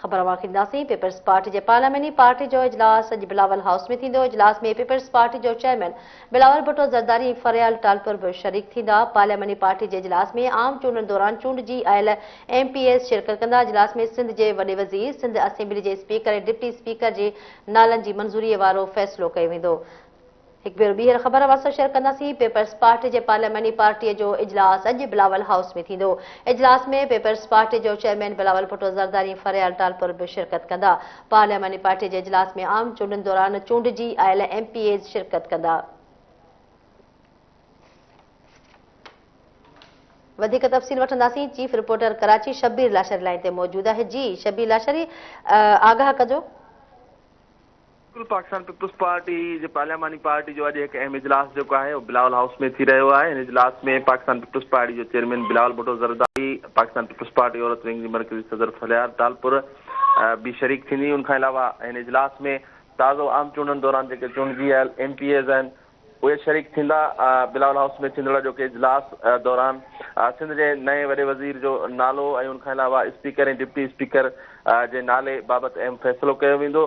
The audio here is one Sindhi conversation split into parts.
خبر اوهان کي ڏينداسين. پيپلز پارٽي جي پارلياماني پارٽي جو اجلاس اڄ بلاول هائوس ۾ ٿيندو، اجلاس ۾ پيپلز پارٽي جو چيئرمين بلاول ڀٽو زرداري ۽ فريال ٽالپر به شريڪ ٿيندا، پارلياماني پارٽي جي اجلاس ۾ عام چونڊن دوران چونڊجي آيل ايم پي ايز شرڪت ڪندا، اجلاس ۾ سنڌ جي وڏي وزير، سنڌ اسيمبلي جي اسپيڪر ۽ ڊپٽي اسپيڪر جي نالن جي منظوري وارو فيصلو ڪيو ويندو. هڪ ڀيرو ٻيهر خبر اوهان سان شيئر ڪنداسين پيپلز پارٽي جي پارلياماني پارٽي جو اجلاس اڄ بلاول هائوس ۾ ٿيندو اجلاس ۾ پيپلز پارٽي جو چيئرمين بلاول ڀٽو زرداري فريال ٽالپر به شرڪت ڪندا پارلياماني پارٽي جي اجلاس ۾ عام چونڊن دوران چونڊجي آيل ايم پي ايز شرڪت ڪندا وڌيڪ تفصيل وٺنداسين chief reporter Karachi Shabbir Lashari line تي موجود آهي جي شبير لاشري آگاهه ڪجو بلڪل پاڪستان پيپلز پارٽي جي پارلياماني پارٽي جو اڄ هڪ اهم اجلاس جيڪو آهي اهو بلاول هائوس ۾ ٿي رهيو آهي ان اجلاس ۾ پاڪستان پيپلز پارٽي جو chairman Bilawal Bhutto Zardari Pakistan peoples party عورت ونگ جي مرڪزي صدر ٿلهيار ٽالپر به شريڪ ٿيندي ان کان علاوه هن اجلاس ۾ تازو عام چونڊن دوران جيڪي چونڊجي آيل ايم پي ايز آهن اهي شريڪ ٿيندا بلاول هائوس ۾ ٿيندڙ اڄوڪي اجلاس دوران سنڌ جي نئين وڏي وزير جو نالو ۽ ان کان علاوه اسپيڪر ۽ ڊپٽي اسپيڪر جي نالي بابت اهم فيصلو ڪيو ويندو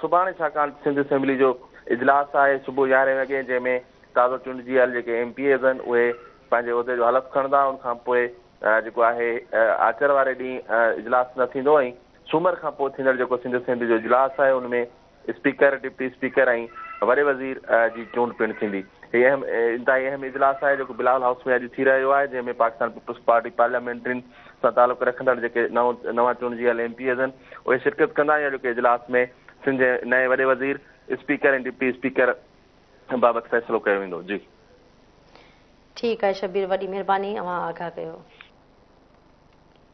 سڀاڻي ڇاڪاڻ ته سنڌ اسيمبلي جو اجلاس آهي صبح يارهين وڳي جنهن ۾ تازو چونڊجيل جيڪي ايم پي ايز آهن اهي پنهنجي عهدي جو حلف کڻندا ان کان پوء جيڪو آهي آچر واري ڏينهن اجلاس نه ٿيندو ۽ سومر کان پوء ٿيندڙ جيڪو سنڌ اسيمبلي جو اجلاس آهي ان ۾ اسپيڪر، ڊپٽي اسپيڪر ۽ وڏي وزير جي چونڊ پڻ ٿيندي. هي اهم انتهائي اهم اجلاس آهي جيڪو بلاول هائوس ۾ اڄ ٿي رهيو آهي جنهن ۾ پاڪستان پيپلز پارٽي پارليامينٽرين سان تعلق رکندڙ جيڪي نوان چونڊجيل ايم پي ايز اهن اهي شرڪت ڪندا ۽ اڄوڪي اجلاس ۾ سنڌ جي نئين وڏي وزير، اسپيڪر ۽ ڊپٽي اسپيڪر بابت فيصلو ڪيو ويندو. جي. ٺيڪ آهي شبير وڏي مھرباني اوھان آگاھ ڪيو.